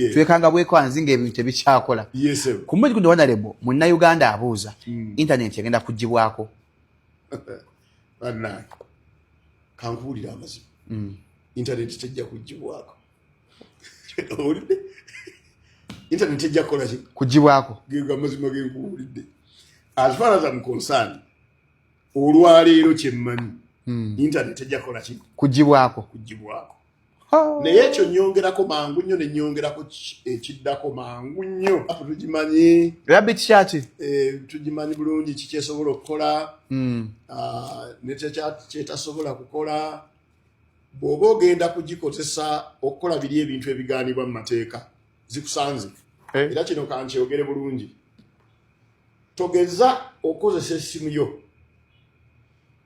eh. twekanga bwekwanzi nga ebintu tebikyakola kumuzi gundi wanalebo munna uganda abuuza hmm. intaneti egenda kugibwako kankuwulira amazima hmm. intaneti tejja kugibwako owulidde intaneti tejja kukolaki kugibwako amazima genkuwulidde as far as am concerned olwaleero kyemmanyi hmm. intaneti tejja kukolaki kugibwako kugibwako Oh. naye ekyo nyongerako mangu nnyo ne nyongerako ekiddako mangu nnyo tugimanyi rabbi kikyaki eh, tugimanyi bulungi kikyesobola okukola hmm. ah, nekyetasobola kukola bw'oba ogenda kugikozesa okukola biri ebintu ebigaanibwa mu mateeka zikusanze eh. era kino kankyogere bulungi togeza okozesa essimu yo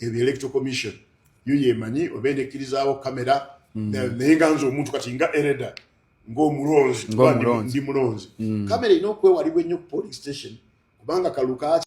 ebyo electoral commission yo yemanyi oba enekkirizaawo kamera hmm. naye nga nze omuntu kati nga ereda ng'omulonzi ndi mulonzi kamera erina okwewalibwa ennyo ku polling station kubanga kalukaaki